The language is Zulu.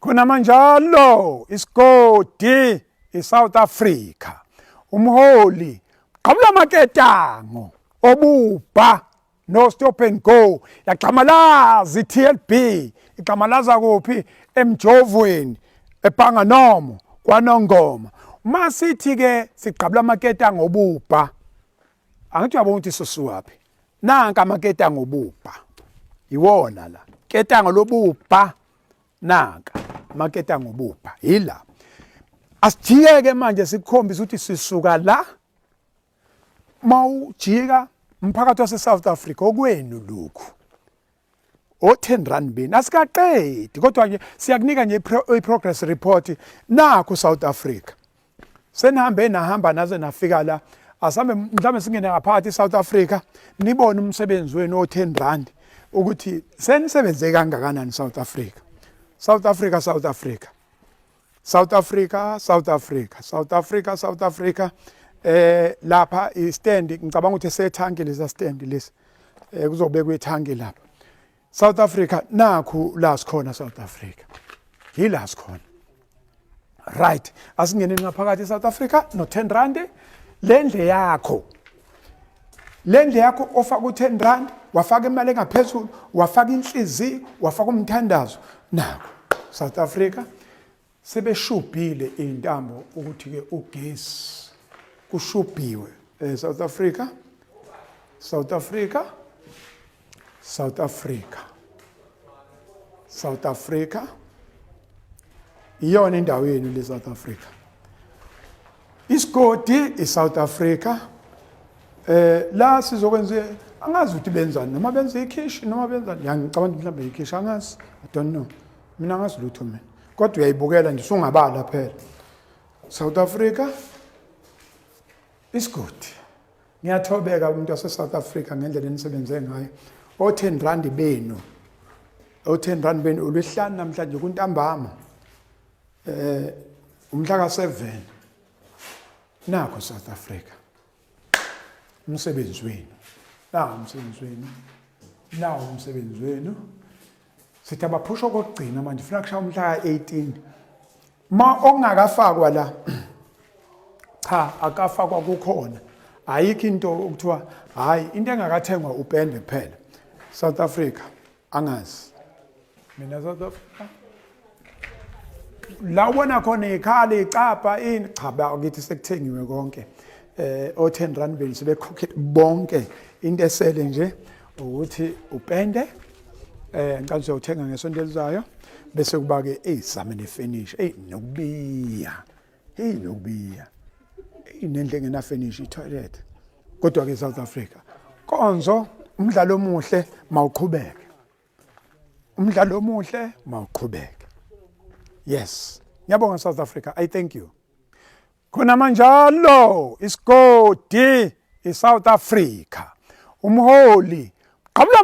khonamanjalo isigodi isouth africa umholi gqabula amaketango obubha no stop and go yagxamalaza i-tlb igxamalaza kuphi emjovweni epanganomo kwanongoma uma sithi-ke sigqabula amaketango obubha angithi uyabona ukuthi sosuwaphi nanka amaketango obubha yiwona la ketango lobubha nanka amaketango obubha yila asijike-ke manje sikukhombisa ukuthi sisuka la uma ujika umphakathi wase-south africa okwenu lokhu o 10 rand bini asikaqedi kodwa ke siyakunika nje i progress report nakho South Africa senihambe nahamba naze nafika la asambe mhlawumbe singene ngaphakathi South Africa nibone umsebenzi wenu o 10 rand ukuthi senisebenze kangakanani South Africa South Africa South Africa South Africa, South Africa, South Africa, South Africa. Eh lapha i stand ngicabanga ukuthi sethanki lesa stand lesi. Eh kuzobekwa ithanki lapha. South Africa nakhu la sikhona South Africa. Yila sikhona. Right. Asingene ngaphakathi eSouth Africa no 10 rand lendle yakho. le ndle yakho ofaka u-10 rand wafaka imali engaphezulu wafaka inhliziyo wafaka umthandazo nako south africa sebeshubhile iy'ntambo ukuthi-ke ugesi kushubhiwe um south africa south africa South Africa South Africa iyona indawo yenu le South Africa isigodi i South Africa eh la sizokwenza angazi ukuthi benzani noma benza ikhishi noma benzani yangicabanga mhlawumbe ikhishi angazi i don't know mina angazi lutho mina kodwa uyayibukela nje sungabala phela South Africa isigodi Ngiyathobeka umuntu waseSouth Africa ngendlela enisebenze ngayo. O-10 rand benu. O-10 rand benu ulihlanu namhlanje kuntambama. Eh umhla ka-7 nakho South Africa. Umsebenzi wenu. Nawo umsebenzi wenu. Nawo umsebenzi wenu. sithi abaphusha okokugcina manje funa kushaya umhla ka-18 ma okungakafakwa la cha akafakwa kukhona ayikho into okuthiwa hhayi into engakathengwa upende kuphela south africa angazi mina south africa la ubona khona ikhali icapha ini cha bakithi sekuthengiwe konke eh o10 rand beni sebekhokhele bonke into esele nje ukuthi upende eh ngicela nje uthenga ngesonto elizayo bese kuba ke izame ne finish ey nokubiya hey nokubiya inendle engena finish i toilet kodwa ke South Africa konzo umdlalo omuhle mawuqhubeke umdlalo omuhle mawuqhubeke yes ngiyabonga south africa i thank you khona manjalo isigodi isouth africa umholi qabula